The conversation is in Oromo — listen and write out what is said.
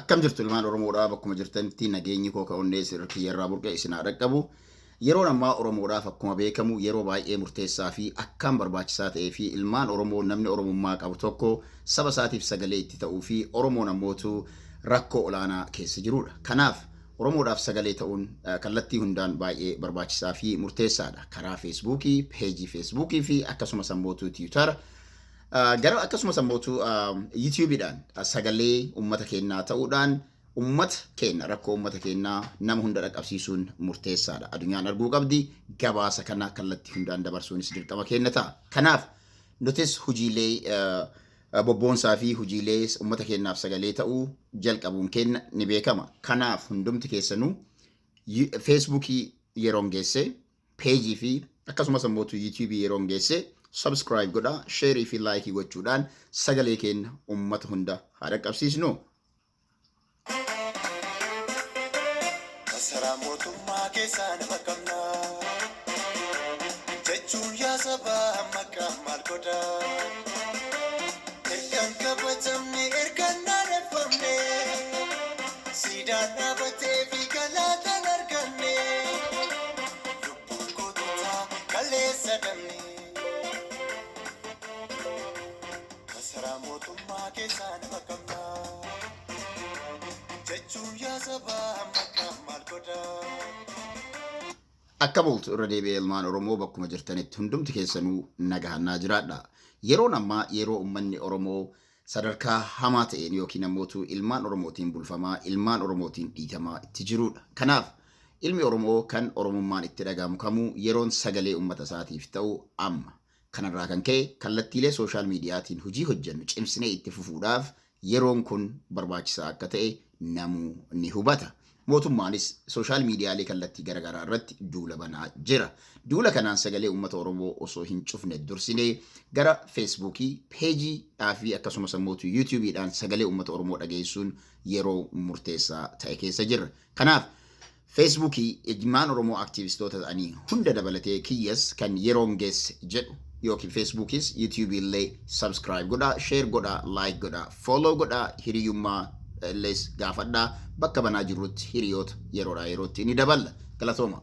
Akkam jirtu ilmaan Oromoodhaa bakkuma jirtanitti nageenyi koo ka onnee sirri kiyyarraa burqe isin haa dhaqqabu. Yeroon ammaa Oromoodhaaf akkuma beekamu yeroo baay'ee murteessaa fi akkaan barbaachisaa ta'ee fi ilmaan Oromoo namni Oromummaa qabu tokko saba isaatiif sagalee itti ta'uu fi Oromoon ammootu rakkoo olaanaa keessa jiruudha. Kanaaf Oromoodhaaf sagalee ta'uun kallattii hundaan baay'ee barbaachisaa fi murteessaadha. Karaa Feesbuukii, peejii Feesbuukii fi akkasumas ammootu Tiwutara Gara akkasumas ammootu yuutiyuubiidhaan sagalee uummata keenyaa ta'uudhaan uummata keenya rakkoo uummata keenyaa nama hunda dhaqqabsiisuun murteessaadha. Addunyaan arguu qabdi gabaasa kana kallattii hundaan dabarsuunis dirqama keenya ta'a. Kanaaf nutis hojiilee bobboonsaa fi hojiilee uummata keenyaaf sagalee ta'uu jalqabuun keenya ni beekama. Kanaaf hundumti keessanuu feesbuukii yeroon geessee page fi akkasumas ammoo tu YouTube yeroon geesse subscribe godha share fi like gochuudhaan sagalee keenya ummata hunda haa dhaqqabsiisnu. Masaraa mootummaa keessaa nama qabna jechuun yaa sabaa maqaa maal godha ergan kabajamne ergan naaneffamne. Siidaa dhaabateefi galaata hin arganne. Lubbuun koo tutaa kaleessa dhabne. Masaraa mootummaa keessaa nama qabnaa. Jechuun yaa sabaa amma kaan maal godhaa? Akkam ooltu irra deebi'ee ilmaan Oromoo bakkuma jirtanitti hundumti keessanuu nagahaan naa jiraadha. Yeroon ammaa yeroo ummanni Oromoo sadarkaa hamaa ta'een ykn ammootu ilmaan Oromootiin bulfamaa, ilmaan Oromootiin dhiitamaa itti jiruudha. Kanaaf, ilmi Oromoo kan Oromummaan itti dhaga'amu kamuu yeroon sagalee ummata isaatiif ta'u amma. Kanarraa kan ka'e, kallattiilee sooshaal miidiyaatiin hojii hojjennu cimsinee itti fufuudhaaf yeroon kun barbaachisaa akka ta'e namuu ni hubata. Mootummaanis sooshaal miidiyaalee kallattii garagaraa irratti duula banaa jira. Duula kanaan sagalee uummata Oromoo osoo hin cufne dursinee gara Feesbuukii, Peejii, dhaafi akkasumas ammootu Yuutuubii dhaan sagalee uummata Oromoo dhageessuun yeroo murteessaa ta'e keessa jirra. Kanaaf Feesbuukii ilmaan Oromoo aktiivistoota ta'anii hunda dabalatee kiyyas kan yeroon geesse jedhu ykn Feesbuukiis Yuutuubii illee subscribe godhaa, share godhaa, like godhaa. Follow godhaa hiriyummaa illes gaafadhaa bakka banaa jirrutti hiriyoota yeroodhaa yerootti ni daballa. Galatoomaa!